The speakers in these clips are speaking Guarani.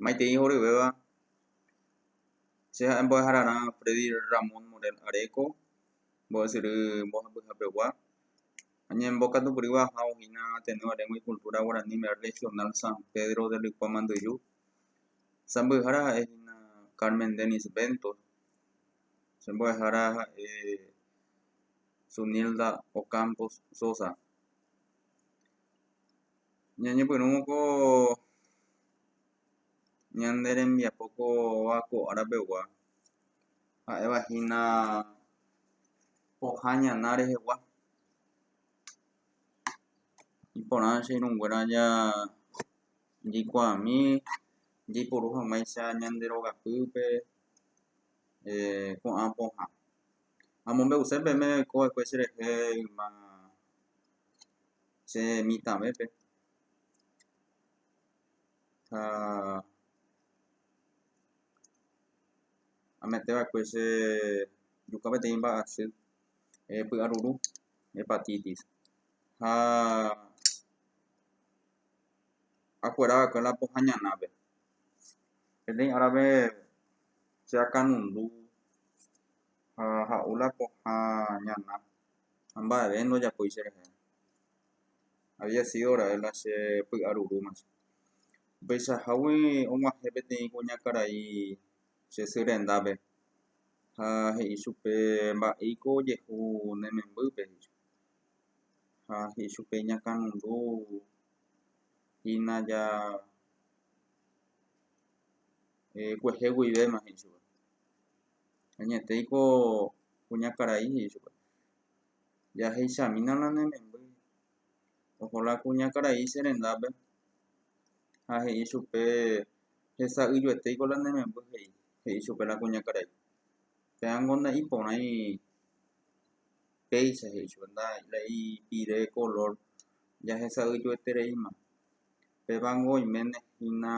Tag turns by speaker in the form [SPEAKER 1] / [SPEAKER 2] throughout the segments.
[SPEAKER 1] Maitei horyvéva, che ha'e mbo'ehararã Freddy Ramón Morel Areco, mbo'esyry mbohapyhapegua. Añembokatukyrýva aja ohína atendiendo la lengua y cultura guaraní regional San Pedro de Luikua Manduju. Sãmbyhára ha'e hína Carmen Denis Bentos, che mbo'ehára ha'e Zunilda Ocampo Sosa. Ñañepyrũmoko ñande rembiapo kóva ko ára pegua, ha'éva hína pohã ñana rehegua. Iporã che irũnguéra jaikuaami jaiporu hag̃uáicha ñande rogapýpe ko'ã pohã. Amombe'use peẽme oiko va'ekue che rehe yma. che mitãvépe ha amete va'ekue che juka peteĩ mba'asy py'aruru hepatitis ha akuera va'ekue la pohã ñanápe peteĩ árape che akanundu ha ha'u la pohã ñana ha mba'eve ndojapói cherehe. Había sido ra'e la che py'arurúma che. Upeichahágui og̃uahẽ peteĩ kuña karai che sy rendápe ha he'i chupe, Mba'éiko ojehu ne membýpe, he'i chupe. Ha he'i chupe, Iñakãnundu hína ja kuehe guivéma, he'i chupe. Añetéiko kuñakarai he'i chupe. Jaheichamína la ne memby. Oho la kuñakarai che rendápe ha he'i chupe, Hesa'ỹijoetéiko la ne memby he'i, he'i chupe la kuñakarai. Péango nda'iporãi péicha he'i chupe, nda la ipire kolór jahesa'ỹijoetereíma. Pévango oiméne hína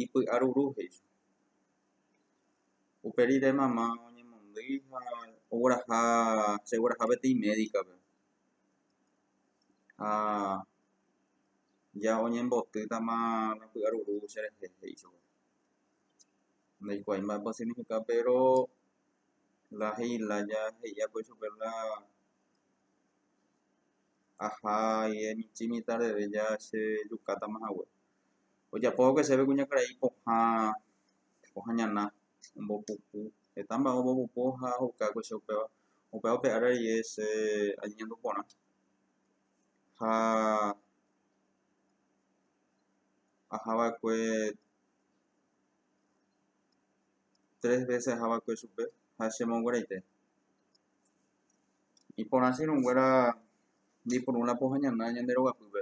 [SPEAKER 1] ipy'aruru he'i chupe. Upe rire mama oñemondýi ha ogueraha, chegueraha peteĩ médikape. Ha ja oñembotýtama la py'aruru cherehe, he'i chupe. Ndaikuaái mba'épa osignifica péro la he'i la ja he'i akói chupe la aha aje michĩmi tardeve ja chejukátama hague. ojapóva'ekue chéve kuñakarai pohã pohã ñana ombopupu heta mba'e ombopupu ha oheukava'ekue che upéva upéva upe ára rie che añeñandu porã ha ahava'ekue tres vése ahava'ekue chupe ha chemongueraite iporã che irũnguéra ndaiporúva la pohã ñana ñande rogapýpe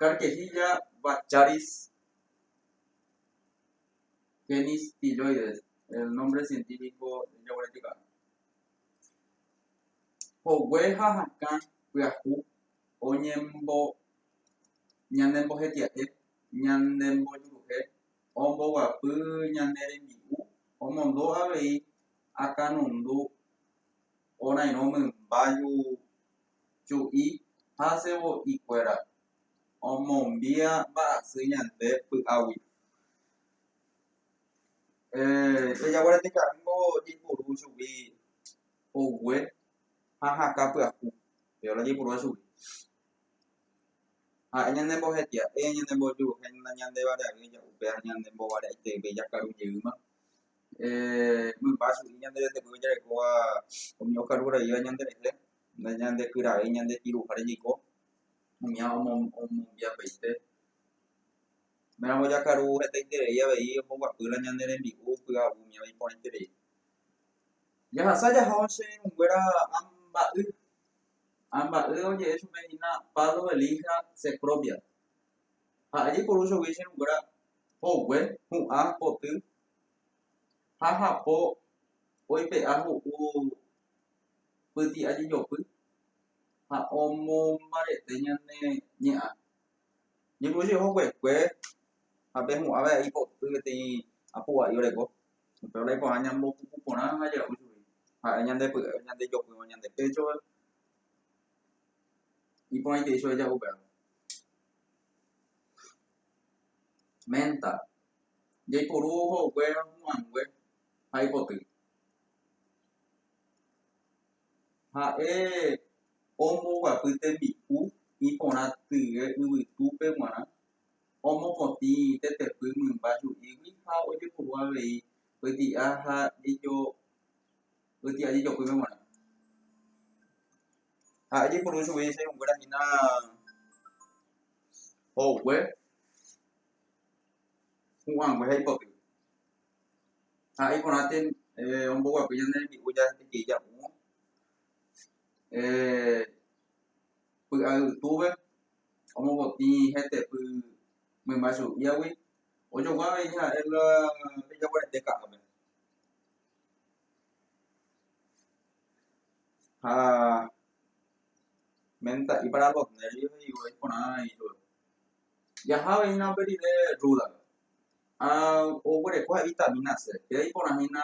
[SPEAKER 1] Carquejilla vacharis, génis Piloides, el nómbre sientífiko jaguaretikápe. Hogue ha hakã pyahu ñanembojetia'e, ñanembojuruhe, omboguapy ñane rembi'u, omondo avei akãnundu orãirõ mymba chu'i ha sevo'i kuéra omombia mba'asy ñande py'agui. Jajagua rete karúngo jaipuru chugui pogue ha hakã pyahu, viola jaipurúva chugui. Ha'e ñande mbohetia'e, ñande mbojuruhe ñande vareavy oja upe ha ñande mbovare'aiteve jakaru jeýma. Mymba chu'i ñande retepýpe jarekóva umi okaru raíva ñande rehe. Ñandekyravéi ñandekiruháre niko umía omombiapaite. Upéramo jakaru hetaiterei avei omboguapýla ñande rembi'u py'aguy umíva iporãiterei. Jahasa jaha che irũnguéra amba'y. Amba'y oje'e chupe hína Pablo Elija Cecropia. Ha'e jaiporu chugui che irũnguéra hogue, hu'ã, poty ha hapo oipe'a ho'u pyti'ajejopy ha omombarete ñane ñe'ã. Jeju che oho kuekue ha pe hu'ã va'e aipoty peteĩ apu'a'i oreko, upéva la iporã ñambo puku porã ha ja'u chugui ha'e ñande py'e ñande jopýva ñande péchove, iporãitei chove ja'u péva. Ménta, jaiporu oho kuéra hu'ãngue ha aipoty. Ha'e omboguapy tembi'u iporã tye yvytúpe g̃uarã, omokotĩ tetepy mymba ju'ígui ha ojepuru avei pyti'a ha pyti'a jejopýpe g̃uarã. Ha'e jepuru chugui che irũnguéra hína hogue, hu'ãngue ha ipotýpe. ha iporãite omboguapy ñande rembi'u jahekei japu'õ py'aytúpe omopotĩ hetepy mymba chu'íagui ojogua avei ha'e la pe jaguarete ka'ápe ha menta'i para los nervios he'ívo iporã ichupe jaha avei hína pe rire rúdape Ha oguereko ha vitamína C. Péva iporãhína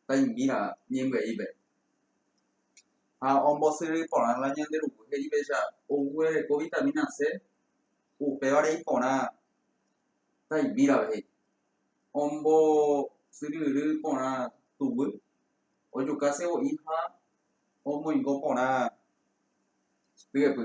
[SPEAKER 1] taimbíra ñembyaipe. Ha ombosyry porã la ñande ruku he'ípecha oguereko vitamína C, upévare iporã taimbírape he'i. Ombosyryry porã tuguy, ojuka sevo'i ha omoingo porã ryepy.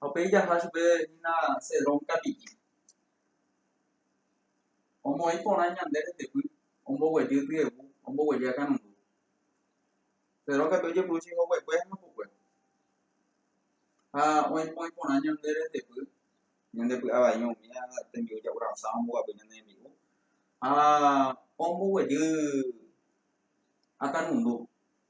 [SPEAKER 1] Ha upéi jaha chupe hína Cedrón tapi'i. Omoĩ porã ñande retepy omboguejy tyegu omboguejy akãrundu. Cedrón katu ojepuru cheihoguekue ha hapokue. Ha oĩpoĩ porã ñande retepy, ñande py'a vai umi tembi'u ja'u rasã omboguapy ñande rembi'u, ha omboguejy akãrundu.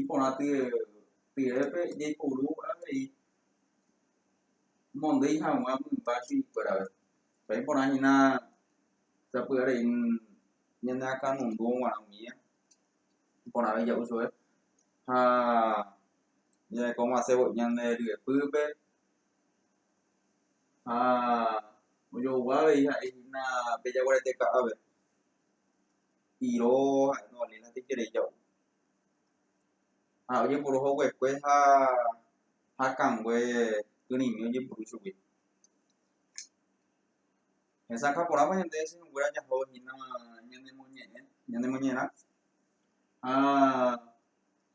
[SPEAKER 1] Iporãtyrepe jaiporu avei mondýi hag̃ua mymba chuguikuérave. Iporãhína sapy'arei ñaneakãnundu g̃uarã umíva, iporã avei ja'u chupe ha jahekova'ekue ñande ryepýpe ha ojohugua avei ha'ehína pe jaguarete ka'ápe, iro ha'e ndovaléi la teiko ja'u. ha ojepuru hoguekue ha hakãngue kyrĩmi ojepuru chugui hesakã porãpa ñande cheñonguéra jaho hína ñanemoñe'ẽ ñanemoñe'ẽrã ha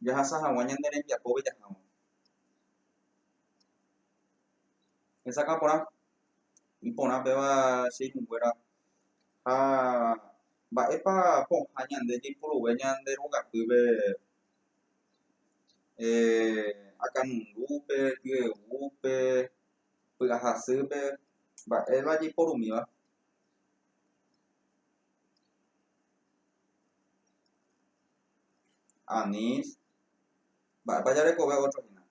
[SPEAKER 1] jahasa hag̃ua ñande rembiapópe jaháva hesakã porã iporã péva che irũnguéra ha Mba'épa pohã ñande jaipuruve ñande rogapýpe akãnundupe, py'aguýpe, py'ahasýpe? Mba'éva jaiporumíva? Anís, Mba'épa jarekove ótro hína?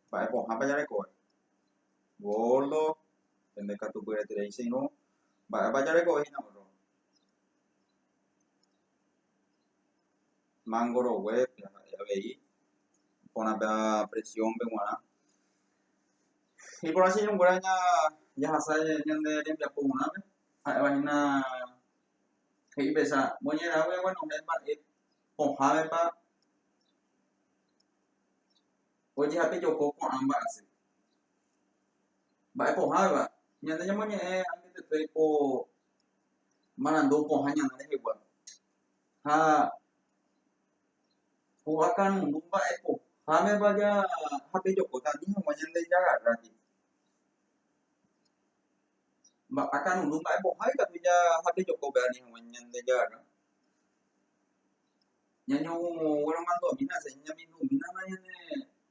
[SPEAKER 1] Mba'e pohãpa jarekove? Gordo, Pende katu py'aiterei che irũ. Mba'épa jarekove hína orro? Mángo roguépe ha'e avei porãpe presiónpe g̃uarã. Iporã che irũnguéra jahasa ñande rembiapo g̃uarãpe, ha'éva hína he'i mbecha moñerãgui aguenohẽ mba'e pohãvepa ojehapejoko ko'ã mba'asy. Mba'e pohãveva, ñande ñamoñe'ẽ añetetépe ko marandu pohã ñana rehegua. Ha hova karundu mba'e pohãveva japejokóta ani hag̃ua ñande jagarráke. Mba'e karundu mba'e pohã ikatu japejoko pe ani hag̃ua ñande jagarra. Ñañogueromandu'amína, ñamindu'umína ñande.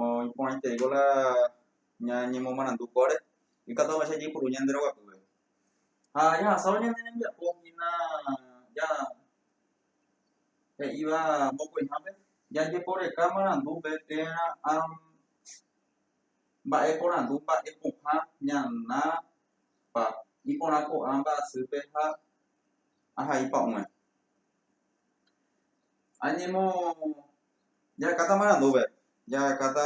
[SPEAKER 1] oĩporãitereiko la ñañemomarandukóre ikatu avei jajeipuru ñande roguapýpe. Ha jahasávo ñane rembiapo hína ja he'íva mokõihápe, jajeporeka marandúpe térã ha mba'e porandu mba'e pohã ñanápa iporã ko'ã mba'asýpe ha ahai pa'ũme. Añemo... Jahekáta marandúpe, jahekáta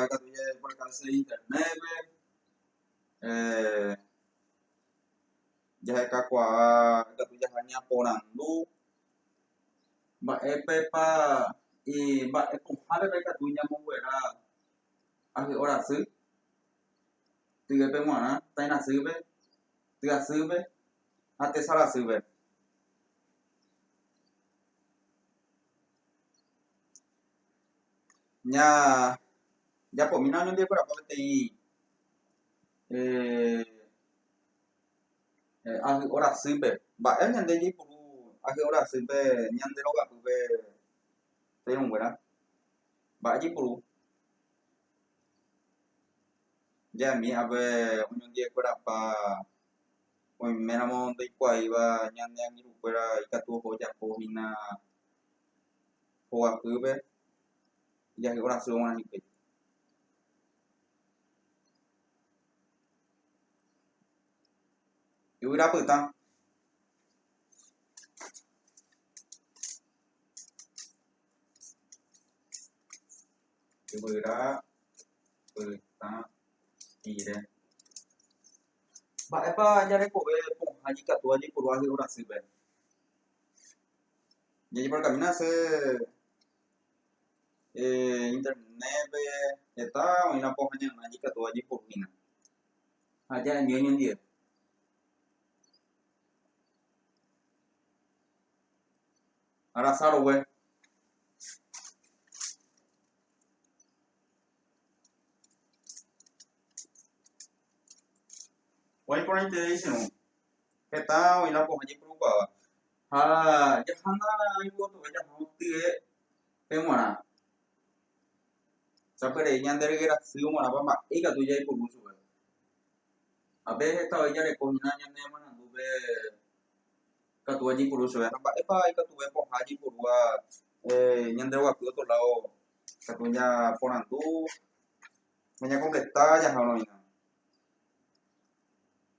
[SPEAKER 1] katu jajeporkase Internétpe, jahekakuaa katu jaha ñaporandu mba'épepa, mba'e pohãpepa ikatu ñamonguera ahy'o rasy tyvepe g̃uarã, tairasýpe, tyasýpe ha tesarasýpe. Ña japomína oñembyakuerapa peteĩ ahy'o rasýpe. Mba'e ñande jaipuru ahy'o rasýpe ñande rogapýpe teĩunguéra? Mba'e jaipuru? Jaimi ápe oñondiekuerapa oiméramo ndoikuaáiva ñane angirũkuéra ikatu oho ojapo hína. hoguapýpe ijahy'o rasývo g̃uarã hikuái. Yvyra pytã. Yvyra pytã pire. Mba'épa jarekove pohã ikatu ajepuru ahy'o rasýpe? Ñañemorakãmína hese Internétpe heta oĩrã pohã ñanema'ẽ ikatu ajeporuhína. Ha aja remiõ ñandie. Arasa rogue. Oĩporãiterei che rũ. Heta oĩ la pohã jeporukuaáva, ha jahána ñañembotove jaha gotye pe g̃uarã. Sapy'arei ñande ryke rasy omorãpa mba'e ikatu jaipuru chupe. Ha pe heta voi jareko hína ñane marandúpe ikatúva jaipuru chupe. Ha mba'épa ikatuve pohã jaipurúva ñande guapy otro lado ikatu ñaporandu, ñañakompleta jaha oĩva.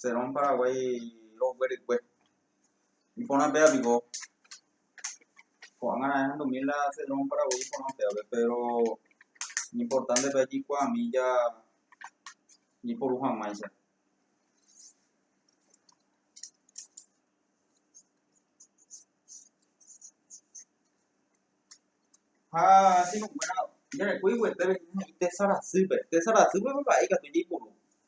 [SPEAKER 1] Serón Paraguái roguerykue. Iporãpéva piko, ko'ág̃a raẽ ahendumi la Serón Paraguái iporãpévape, péro ñimportánte pe jaikuaami jajeporu hag̃uáicha. Ha che irũnguéra jarekói yvy he'i tésa rasýpe, tésa rasýpe pe pa'i ikatu jaiporu.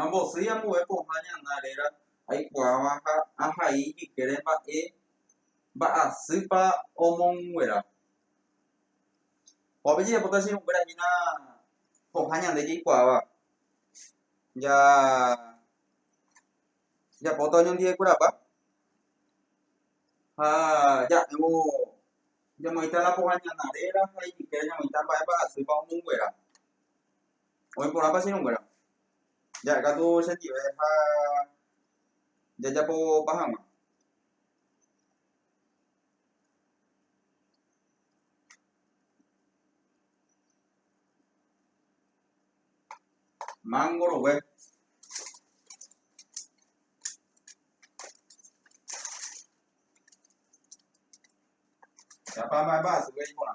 [SPEAKER 1] Ambosýi ambue pohã ñana réra aikuaáva ha ahai ijykére mba'e mba'asýpa omonguera. Opa jajapóta che irũnguéra hína pohã ñande jaikuaáva. Japóta oñondivekurapa ha ja'évo jamoĩta la pohã ñana réra ha ijykére jamoĩta mba'e mba'asýpa omonguera. Oĩ porãpa che irũnguéra? Ja'e katu chendive ha jajapopa hag̃ua. Mángo rogue. Japa mba'emba'asýpe iporã.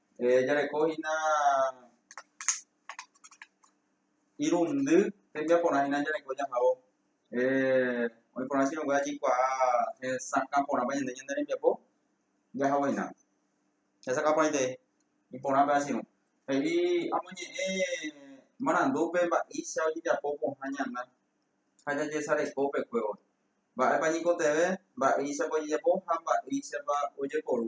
[SPEAKER 1] Jarekohína irundy tembiaporãhína jareko jahávo. Oĩ porã che rengue jaikuaa hesakã porãpa ñande ñane rembiapo, jahaguahína. Hesakã porãite iporãpe achirũ. He'i amoñe'ẽ marandúpe mba'éicha ojejapo pohã ñana ha jajesareko upekuévo. Mba'épa ñikotevẽ, mba'éichapa ojejapo ha mba'éichapa ojeporu.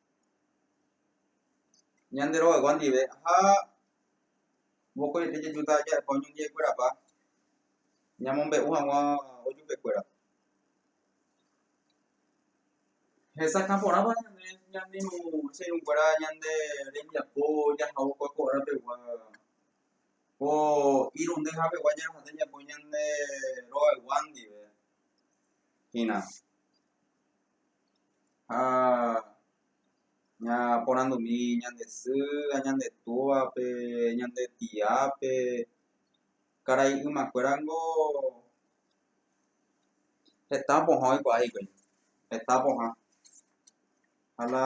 [SPEAKER 1] Ñande rogaygua ndive ha mokõiete jejuta ja'épa oñondiaikuerapa ñamombe'u hag̃ua ojupekuéra. Hesakã porãpa ñande ñane irũnguéra ñande rembiapo jahaókua ko árapeguua, ko irundy hapegua ñañeha'ã tembiapo ñande rogaygua ndive hína. ha ñaporandumi ñande sy ha ñande túvape, ñande tiápe, karai ymakuéra niko heta pohã oikuaa hikuái, heta pohã ha la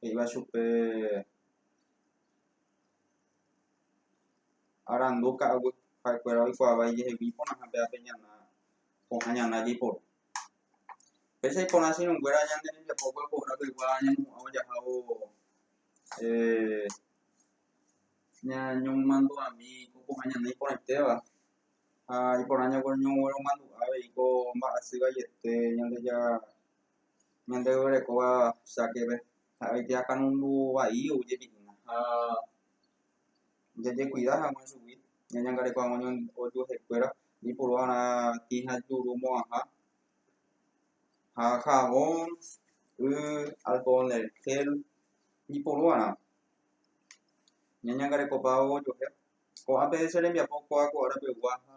[SPEAKER 1] he'íva chupe arandu ka'aguy ha'ekuéra oikuaavai jehegui iporãha péva pe ñana pohã ñana jaiporu péicha iporã sirũnguéra ñande rembiapo guapohra pegua ñañemu'ãvo jahávo eh ñañomomandu'ami ko pohã ñana iporãitéva ha iporã ñañogueromandu'a avei ko mba'asy vaiete ñandeja Ñande orekóva chákepe ha'e oike akãrundu vai oújepi hína ha jajekuida hag̃ua chugui ñañangareko hag̃ua ojuehekuéra iporuva'erã tĩ ha juru mo'ãha ha javon, y, alcohol del gel iporuva'erã ñañangarekopávo ojuehe. Ko'ápe che rembiapo kuaakua'arapegua ha